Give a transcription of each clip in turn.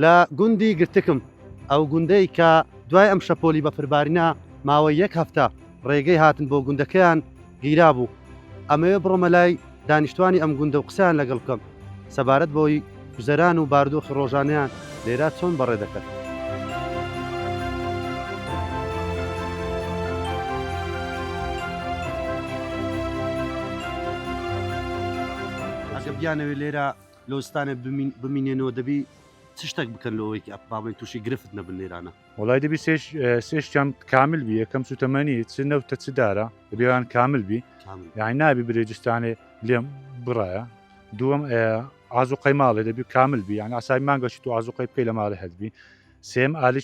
لە گوندی گرتکم، ئەو گوندەی کە دوای ئەم شەپۆلی بەفربارینە ماوەی یەک هەفتە ڕێگەی هاتن بۆ گوندەکەیان گیرابوو، ئەمەوێ بڕۆمە لای دانیشتوانی ئەم گوندە و قسەیان لەگەڵ بکەم سەبارەت بەوەی گوزەران و باردۆخی ڕۆژانەیان لێرە چۆن بەڕێ دەکەن. ئەگەر بیانەوێ لێرە لۆزستانێ بمین بمینێنەوە دەبی چ شتەک بکەن لۆەوەی کە با بڵێن تووشی گرفت نەبن لێرانە؟ وەڵای دەبی سێ سێ شتیان کامل بی یەکەم سووتەمەنی چ نەوتە چ دارە دەبێ ئەوان کامل بی کامل یانی نابی برێجستانێ لێم بڕایە دووەم ئازوقەی ماڵێ دەبی کامل بی یانی عەسابی مانگەشی تو ئازوقەی بکەی لە ماڵێ هەت بی سێم ئالیی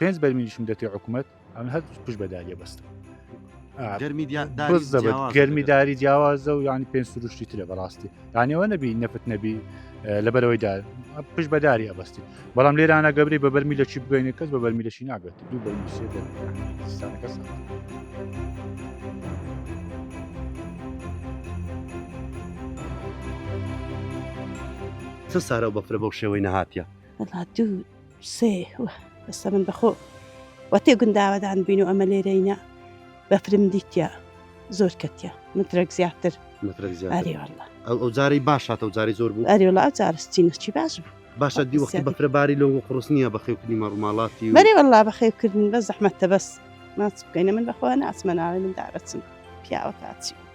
پێنج بەرمیلیشم دەتێ حکومەت ئەم هەر پشت بە داریە بەستم گەرمی داری جیاوازە و یانی پێنج سروشتی ترە بەڕاستی دانیەوە نەبی نەفت نەبی لەبەرەوەی دا پش بەداری ئەبستی بەڵام لێرانە گەبری بە بەرمی لە چی بگەینە کەس بە بەرمی لەشی نابێت دوو بەرمی سێ کەس. سارە بەفرە بەو شێوەی نەهاتە دوو سێ وە بەسە من بەخۆ وە تێ گونداوەدان بین و ئەمە لێرەینە بەفرم دیتە زۆر کەتە مترەک زیاتر مترەک زیاتری والله ئەو جاری باشاتە و جاری زۆر بوو ئەری وڵا جارستی نەچی باش بوو باشە دی وەختی بەفرە باری لەو قڕس نییە بەخێوکردنی مەڕووماڵاتی و مەری والله بەخێوکردن بە زەحمەتە بەس ماچ بکەینە من بەخۆ ناچمە ناوێ من دابەچم پیاوە کاچی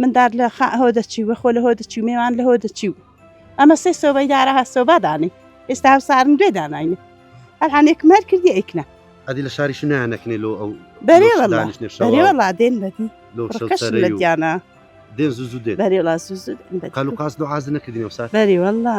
مندار لە خا هۆ دەچی و خۆ لە هۆ دەچی و مێوان لە هۆ دەچی و ئەمە سێ سۆبەی دارە هە سۆبا دانێ ئێستا هەم سارن دوێ داناینە ئەلحانێک مەر کردی ئەیکنە ئەدی لە شاریش نانەکنێ لۆ ئەو بەرێ وڵا دێن بەدی لە دیانە دێن زوو دێ بەرێ وڵا زوو قالوقاس دوعاز نەکردنی و سا بەری وڵا